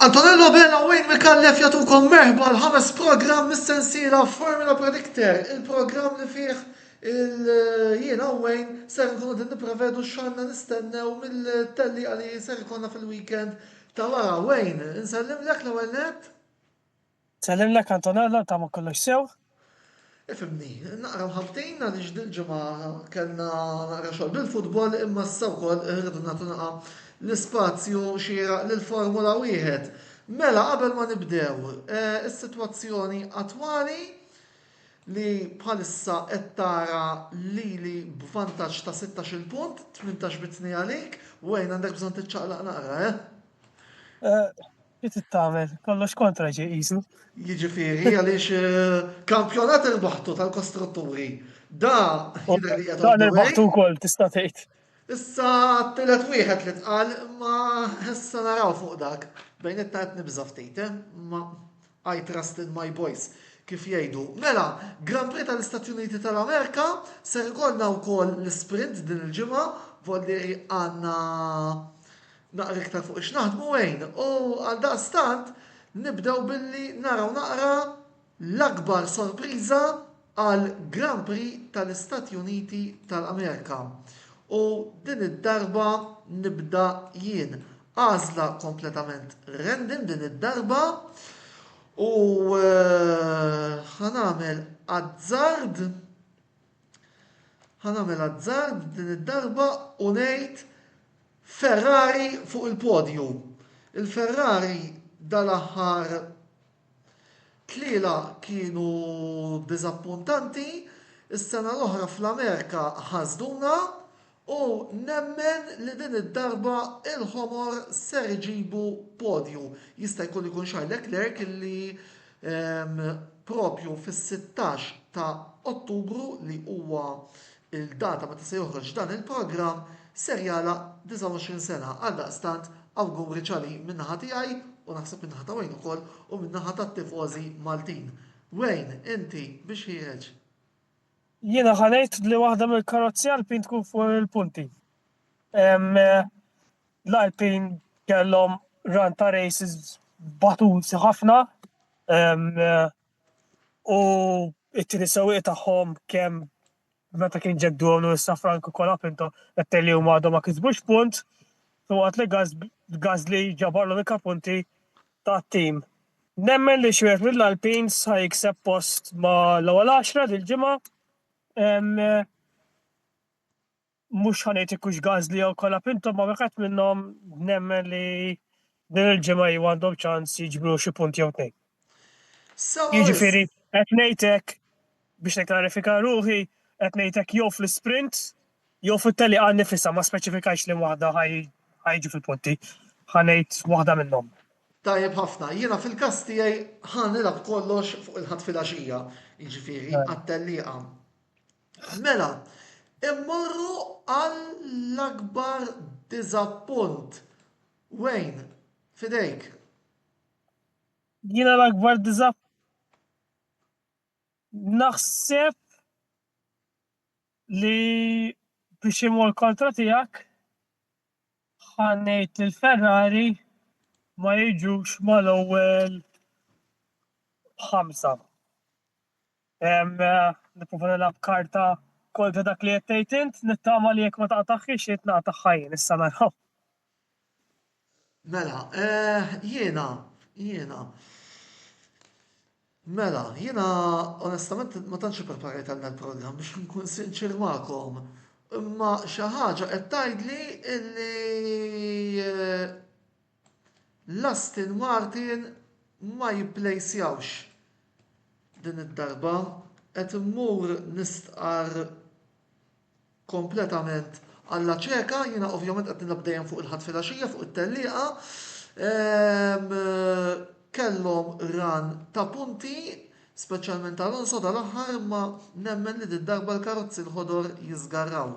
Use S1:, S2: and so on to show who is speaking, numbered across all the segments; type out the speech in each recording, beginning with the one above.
S1: Antonello Bella u Wayne Mikallef jatukom merħba l-ħames program mis-sensiela Formula Predictor, il-program li fih il-jiena u Wayne ser nkunu din niprevedu xanna nistennew mill-telli għalli ser konna fil-weekend ta' wara. Wayne, nsellim l-ek l-ewel net? Sellimlek
S2: Antonella nittama kollox sew. Ifhimni,
S1: naqra mħabbtin għaliex dil-ġimgħa kellna naqra xogħol bil-futbol imma issa wkoll irridu nagħtu naqra l-ispazju xieraq lill-Formula Wieħed. Mela qabel ma nibdew, is-sitwazzjoni attwali li bħalissa qed tara lili b'vantaġġ ta' sittax-il punt, tmintax bi tnejn għalik, Wayne għandek bżonn tiċċaqlaq naqra, eh? Li
S2: tittamel, kollox kontra ġej qisu. Jiġifieri
S1: għaliex eh, kampjonat irbaħtu tal-kostrutturi. Da jidher li qed Dan irbaħtu wkoll
S2: tista' tgħid. Issa
S1: t-tielet wieħed li tqal ma issa naraw fuq dak. Bejn it qed nibża' ftit, eh? ma I trust in my boys kif jgħidu. Mela, Grand Prix tal-Istati Uniti tal-Amerika ser ikollna wkoll l-sprint din il-ġimgħa, volli għandna Naqra iktar fuq x'naħdmu għin u għaldaqstant nibdew billi naraw naqra l-akbar sorpriża għal Grand Prix tal-Istati Uniti tal-Amerika. U din id-darba nibda jien. Għażla kompletament random din id-darba u ħa nagħmel azzard Ħa nagħmel azzard din id-darba u ngħid Ferrari fuq il-podju. Il-Ferrari dal-aħħar tliela kienu diżappuntanti, is-sena l-oħra fl-Amerika ħasduna, U nemmen li din id-darba il-Ħomor ser iġibu podju. Jista' jkun li jkun Charles Leclerc li propju fis-sittax ta' Ottubru li huwa l-data meta se joħroġ dan il-programm ser jagħlaq 29 sena. Għaldaqstant awguri Charlie min-naħa tiegħi u naħseb min-naħa ta' Wayne ukoll u min-naħa tat-tifożi Maltin. Wayne, inti biex ħiereġ.
S2: Jiena ħa ngħid li waħda mill-karozzi Alpin tkun fuq il-punti. L-Alpin kellhom run ta' races batuti ħafna u it-tieni sewwieq tagħhom kemm meta kien ġeddu għamlu issa Frank u Kola Pinto qed li huma għadhom ma kisbux punt u għat li Gazli ġabarlu l punti tat-tim. Nemmen li Xwiegħet Mill-Alpin sa jikseb post ma' l-ewwel għaxra dil-ġimgħa. Mhux ħa ngħid jekk hux Gazli jew Colapinto ma' wieħed minnhom nemmen li din il-ġimgħa iva għandhom ċans jiġbru xi punt jew tnejn. Jiġifieri qed ngħid hekk Biex nikklarifika ruħi, qed ngħid hekk jew fl-isprint jew fit-tellieqa nnifisha, ma speċifikajtx liema waħda ħa jiġu fil-punti. Ħa ngħid waħda minnhom. Tajjeb ħafna.
S1: Jiena fil-każ tiegħi ħa nilgħab kollox fuq il-Ħadd filgħaxija, jiġifieri għat-tellieqa. Mela, immorru għall-akbar diżappunt. Wayne, f'idejk.
S2: Jiena l-akbar diżappunt. Naħseb li biex imur kontra tiegħek ħa ngħid li l-Ferrari ma jiġux mal-ewwel ħamsa. Nipprova nilgħab karta kontra dak li qed tgħid int, nittama li jekk ma taqtaħħiex int naqtaħħa jien, issa naraw.
S1: Mela, eh, jiena, jiena. Mela, jiena onestament ma tantx ippreparajt għal dal-programm biex nkun sinċir magħkom. Imma xi ħaġa qed tgħidli illi eh, l-Aston Martin ma jipplejsjawx din id-darba qed immur nistqar kompletament alla ċeka, jiena ovvjament qed nilgħab dejjem fuq il-Ħadd filgħaxija fuq it-tellieqa. Kellhom ran ta' punti, speċjalment Alonso dal-aħħar imma nemmen li did-darba l-karozzi l-ħodor jiżgarraw.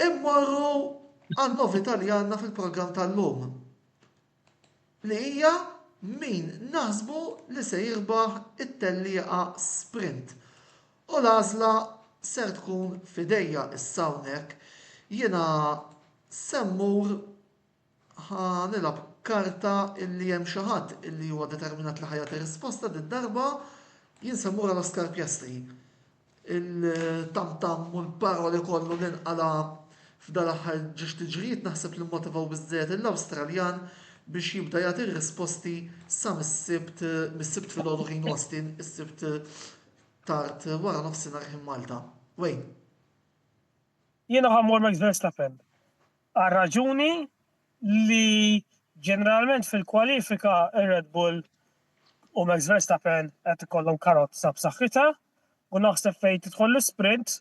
S1: Immorru għan-novità li għandna fil-programm tal-lum. li hija min naħsbu li se jirbaħ it-tellieqa sprint u l-għażla ser tkun f'idejja issa hawnhekk jiena se mmur ħa nilgħab karta illi hemm xi ħadd illi huwa determinat li ħa jagħti risposta did-darba jien se mmur għal Oscar Piastri il-tam-tam u l-paroli kollu li nqala' f'dal-aħħar ġiex tiġrijiet naħseb li mmotivaw biżżejjed lill-Awstraljan biex jibda jagħti r-risposti sa mis-Sibt mis-Sibt filgħodu ħin Austin, is-Sibt tard waranofsinhar ħin Malta. Wayne.
S2: Jiena ħammur Max Verstappen. Għar-raġuni li ġeneralment fil-kwalifika r-Red Bull u Max Verstappen qed ikollhom karozza b'saħħitha u naħseb fejn tidħol l-isprint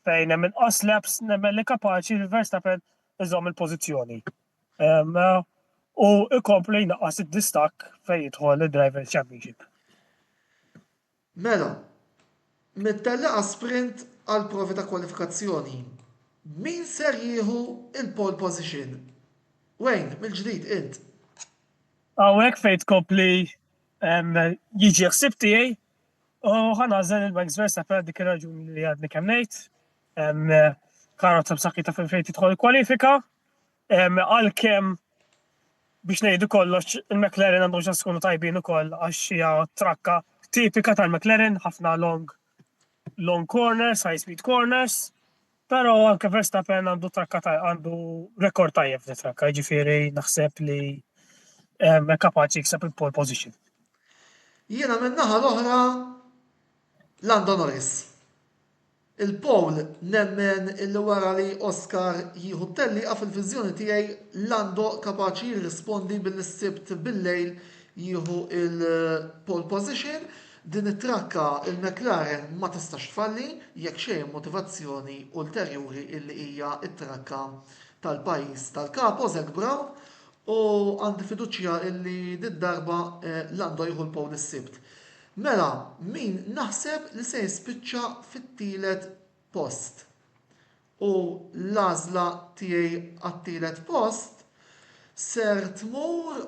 S2: fejn hemm inqas laps nemmen li kapaċi li Verstappen iżomm il-pożizzjoni. U ikompli jnaqqas id-distakk fejn jidħol id-Driver Championship. Mela,
S1: mit-tellieqa sprint għall-provi ta' kwalifikazzjoni, min ser jieħu l-pole position? Wayne, mill-ġdid int.
S2: Hawnhekk fejn tkompli jiġi l-ħsieb tiegħi u ħa nagħżel lil Max Verstappen għal dik ir-raġuni li għadni kemm ngħid. Karozza b'saħħitha fejn tidħol il-kwalifika Għalkemm biex ngħidu kollox, il-McLaren għandhom ċans ikunu tajbin ukoll għax hija trakka tipika tal-McLaren, ħafna long long corners, high speed corners, però anke Verstappen għandu trakka ta' għandu rekord tajjeb f'di trakka, ġifieri naħseb li kapaċi jikseb il-pole position.
S1: Jiena minn naħa l-oħra Lando Norris. Il-poll nemmen illi wara li Oscar jieħu t-tellieqa fil-viżjoni tiegħi Lando kapaċi jirrispondi billi s-Sibt bil-lejl jieħu l-pole position. Din it-trakka il-McLaren ma tistax tfalli jekk xejn b'motivazzjoni ulterjuri illi hija t-trakka tal-pajjiż tal-Kapo Zak Brown u għandi fiduċja illi did-darba Lando jieħu l-pole is-Sibt. Mela min naħseb li se jispiċċa fit-tielet post? U l-għażla tiegħi għat-tielet post ser tmur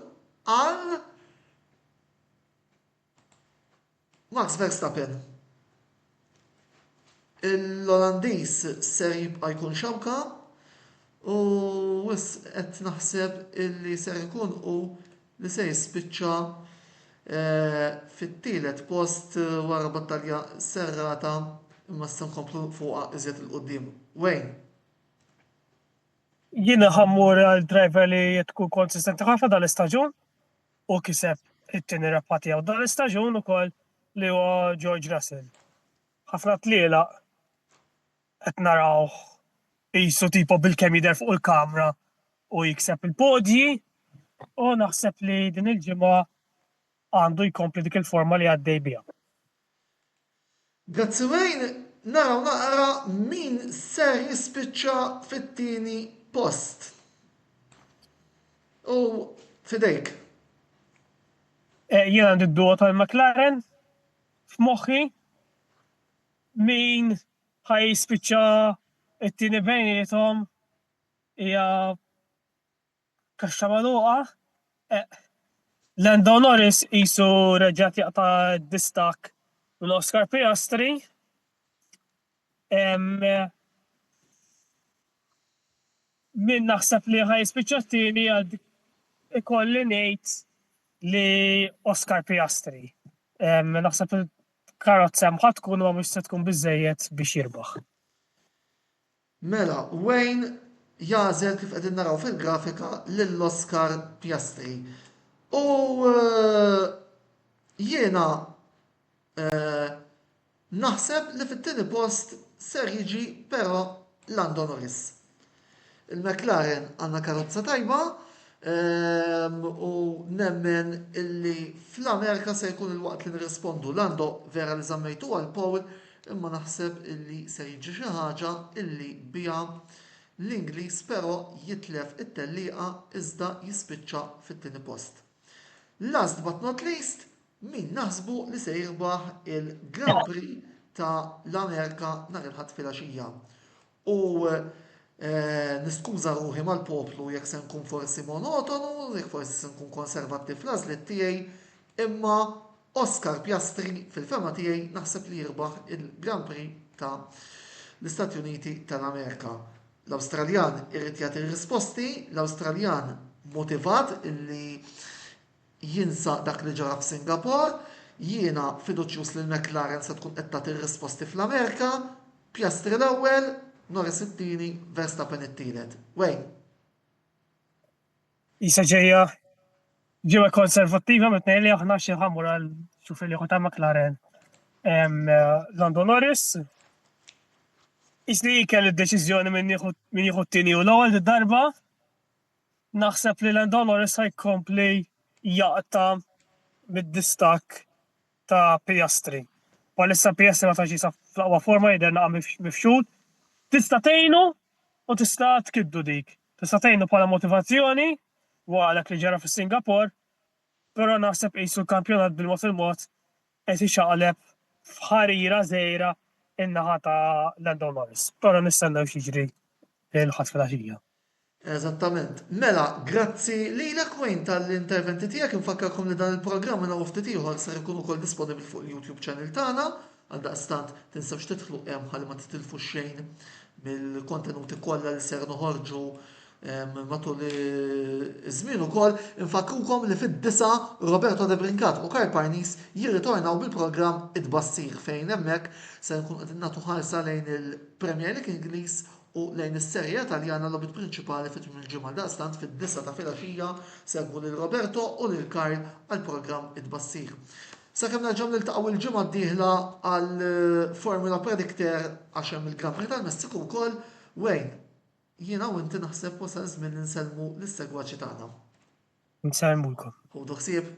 S1: għal Max Verstappen. l-Olandiż ser jibqa' jkun xewka u wisq qed naħseb illi ser ikun hu li se jispiċċa fit-tielet post wara battalja serrata imma se nkomplu fuqha iżjed 'il quddiem. Wayne.
S2: Jiena ħa mmur għal driver li tkun konsistenti ħafna dan l-istaġun. Hu kiseb it-tieni rebħa tiegħu dan l-istaġun ukoll li huwa George Russell. Ħafna tlielaq qed narawh qisu tipo bilkemm jidher fuq il-kamra u jikseb il-podji u naħseb li din il-ġimgħa għandu jkompli dik il-forma li għaddej biha.
S1: Grazzi Wayne, naraw naqra min ser jispiċċa fit-tieni post. U f'idejk.
S2: Jien għandi d-duo tal-McLaren f'moħħi. Min ħa jispiċċa t-tieni bejniethom hija Kaxxa magħluqa, eqq. Lando Norris qisu reġa' qed jaqta' d-distakk minn Oscar Piastri. Min naħseb li ħa jispiċċa t-tieni għad ikolli ngħid li Oscar Piastri. Naħseb il-karozza hemm ħa tkun imma mhux se tkun biżżejjed biex jirbaħ. Mela
S1: Wayne jagħżel kif qegħdin naraw fil-grafika lil Oscar Piastri. U jiena naħseb li fit-tieni post ser jiġi però Lando Norris. Il-McLaren għandna karozza tajba, Ehm, u nemmen illi fl-Amerika se jkun il-waqt li nirrispondu. Lando, vera li zammejtu għal Paul, imma naħseb illi se jiġi xi ħaġa illi biha l-Ingliż però jitlef it-tellieqa iżda jispiċċa fit-tieni post. Last but not least, min naħsbu li se jirbaħ il-Grand Prix ta' l-Amerika nhar il-Ħadd filgħaxija. U niskuża ruħi mal-poplu jekk se nkun forsi monotonu, jekk forsi se nkun konservattiv fl-għażliet tiegħi, imma Oscar Piastri fil-fehma tiegħi naħseb li jirbaħ il-Grand Prix ta' l-Istati Uniti ta' l-Amerika. L-Awstraljan irid jagħti r-risposti, l-Awstraljan motivat illi jinsa dak li ġara f'Singapore, jiena fiduċjuż li l-McLaren se tkun qed tagħti r-risposti fl-Amerika, Piastri l-ewwel, Norris it-tieni, Verstappen it-tielet. Wayne.
S2: Isa ġejja ġewwa konservattiva mit-tnejn li aħna xi ħammur għal xuf il ta' McLaren. Lando Norris, isni kell id-deċiżjoni minn jieħu t-tieni u l-ewwel darba Naħseb li Lendonor issa jkompli jaqta' mid-distakk ta' Piastri. Bħalissa Piastri ma tantx jinsab fl-aqwa forma jidher naqa' mifxul. Tista' tgħinu u tista' tkiddu dik. Tista' tgħinu bħala motivazzjoni wara dak li ġara fis-Singapore, però naħseb qisu l-kampjonat bil-mod il-mod qed ixaqleb f'ħarira żgħira in-naħa ta' Lando Norris. Però nistennew x'jiġri l-Ħadd filgħaxija. Eżattament.
S1: Mela, grazzi lilek Wayne tal-interventi tiegħek. Infakkarkom li dan il-programm minn hawn u ftit ieħor ser ikun ukoll disponibbli fuq il-YouTube channel tagħna. Għaldaqstant, tinsewx tidħlu hemm ħalli ma titilfu xejn mill-kontenuti kollha li ser noħorġu Matul iż-żmien ukoll infakkrukom li fid-disgħa Roberto De Brincat u Karl Parnis jirritornaw bil-programm It-Tbassir fejn hemmhekk ser inkunu qegħdin nagħtu ħarsa lejn il-Premier League Ingliż u lejn is-Serie A Taljana l-logħbiet prinċipali fi tmiem il-ġimgħa. Għaldaqstant fid-disgħa ta' filgħaxija segwu lil Roberto u lil Karl għall-programm It-Tbassir. Sakemm nerġgħu niltaqgħu il-ġimgħa d-dieħla għall-Formula Predictor għax hemm il-Grand Prix tal-Messiku wkoll, Wayne. Jiena u inti naħseb wasal iż-żmien li nsellmu lis-segwaċi tagħna. Nsellmulkom. Ħudu ħsieb.